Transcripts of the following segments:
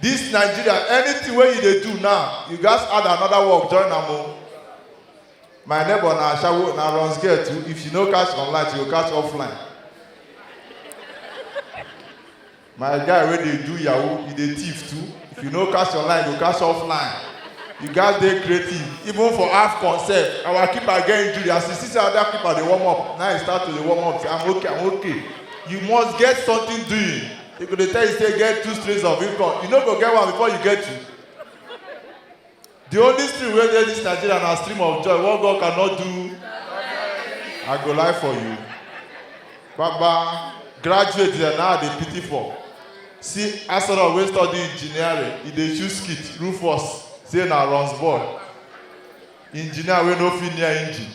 This Nigeria, anything wey you dey do now, you gats add another work join am o. My neighbor na ashawo, na runs girl too, if she no catch online, she go catch offline. My guy wey dey do yahoo, he dey thief too, if you no catch online, you go catch offline. You gats dey creative, even for AFCON sef, our keeper get injury, as he see say other keeper dey warm up, na he start to dey warm up, say I'm okay, I'm okay. You must get something doing. They go dey tell you say get two streams of income. You no go get one before you get two. The only stream wey dey this Nigeria na stream of joy. What God cannot do, I go lie for you. Baba, graduate dem now I dey pity for. See Asoro wey study engineering, e dey choose skit, Rufus, say na runs boy. engineer wey no fit near engine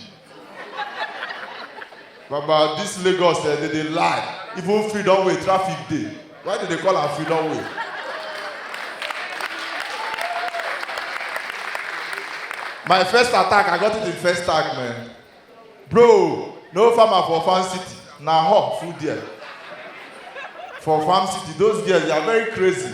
baba this lagos eh dey dey lie even freedom way traffic dey why dey dey call am freedom way my first attack i got it in first tag man bro no farmer for farm city na hawk full there for farm city those girls they are very crazy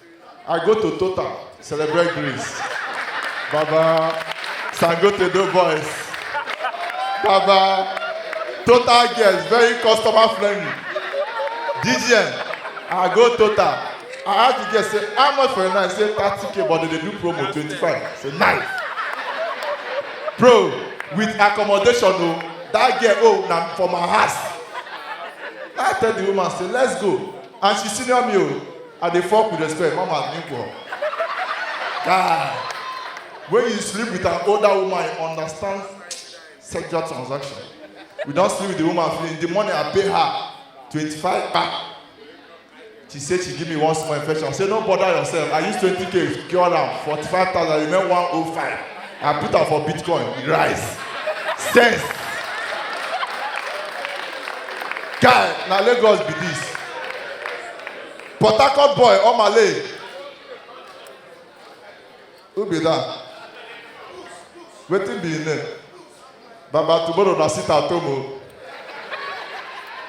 I go to Total, celebrate Greece. Baba, Sangote do boys. Baba, Total girls, very customer friendly. DGN, I go Total. I ask the girl, say, how much for a night? Say, 30k, but they dey do promo, 25. Say, nice. Bro, with accommodation, oh, that girl, oh, na for my house. I tell the woman, say, let's go. And she senior me, oh. I dey fuck with respect, mama nigga. Guy, when you sleep with an older woman, you understand sexual transaction. We don't sleep with the woman feeling. The money I pay her, 25 back. She said she give me one small infection. I said, no bother yourself. I use 20k, cure am, 45,000, remain 105. I put am for Bitcoin, it rise. Sense. Guy, na Lagos be this. Port Harcourt boy, Omale. Who be that? Wetin be him name? Baba tomorrow na sit at home o.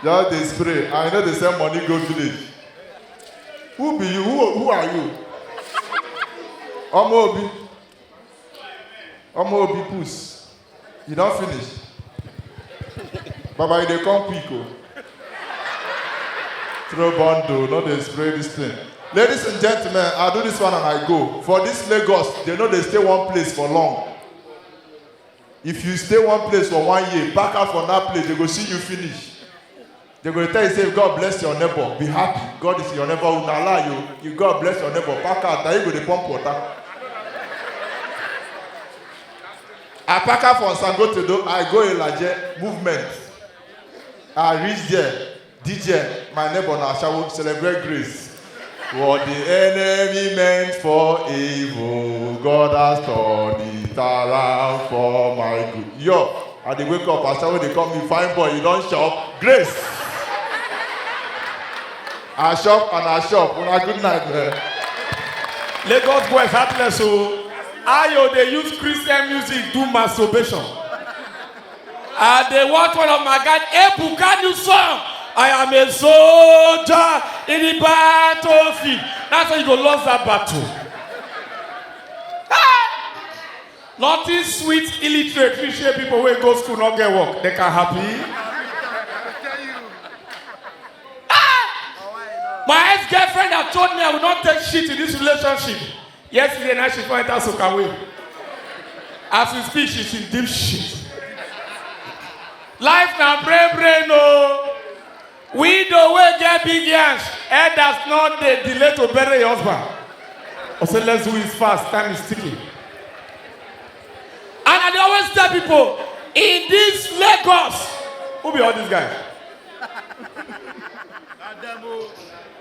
Just dey spray and you no dey send money go village. Who be you? Who, who are you? Ọmọ Obi. Ọmọ Obi puss. You don finish? Baba, you dey come quick o. Throw bundle, no dey spray this thing. Ladies and gentlemen, I do this one and I go. For this Lagos, they no dey stay one place for long. If you stay one place for one year, pack out from that place, they go see you finish. They go tell you say God bless your neighbor, be happy. God is your neighbor. Una lie you. You God bless your neighbor. Pack out. Now you go dey pump water. I pack out from Sangotedo. I go Ilaje movement. I reach there. DJ, my neighbor na Ashawo celebrate grace. What the enemy meant for evil, God has turned it around for my good. Yo, I dey wake up, as someone dey call me fine boy, you don shop, grace. I shop and I shop, una good night man. Lagos boys heartless o. Ayo dey use Christian music do masturbation. I dey watch one of my guys, Ebuka new song. I am a soldier in the battlefield. That's how you go lose that battle. Nothing sweet illiterate we share people wey go school no get work they can happy. My ex-girlfriend had told me I will not take shit in this relationship. Yesterday night she come enter Sokaway. As we speak, she's in deep shit. Life na brain brain o. Widow wey get big yansh, elders no dey delay to bury your husband. I say let's do it fast, time is ticking. And I dey always tell people, in this Lagos, who be all these guys?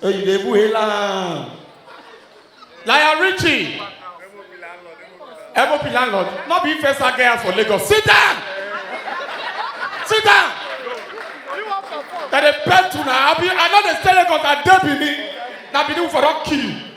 Hey, you dey buhe land. Lion Richie. MOP landlord. No be first I get house for Lagos. Sit down. Sit down. That they pay to now. I be I know they stay Lagos. I dey Benin. Now Benin for don kill you.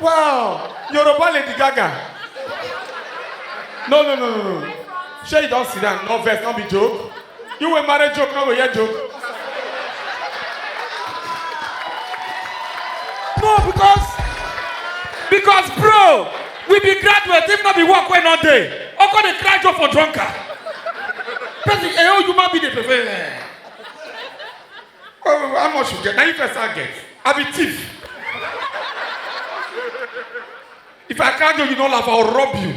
Wow! Yoruba Lady Gaga. No, no, no, no, no. Sure, you don't sit down. No vex, no be joke. You will marry joke, no go hear joke. No, because because bro, we be graduate if not be work wey no dey. Oko dey cry joke for drunkard. Person, eh, oh, you man be the prefer. oh how much you get na you first i get i be thief if i catch you you no laugh i will rob you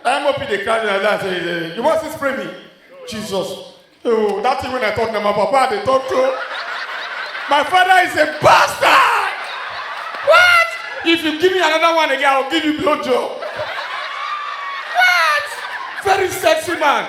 mop dey carry like that say eh, you wan still spray me jesus oh that thing wey i talk na my papa i dey talk to my father is a bastard what if you give me another one again i will give you blow job what very sexy man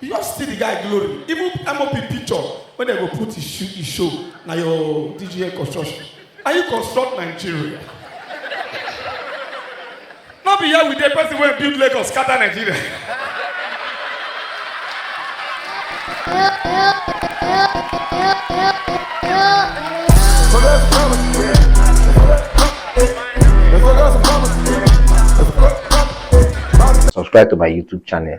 you just see the guy glory even mop picture wey dem go put e show e show na your dgn construction and you construct nigeria no be here we dey person wey build lagos scatter nigeria. So that's promise. So that's a promise. Subscribe to my YouTube channel.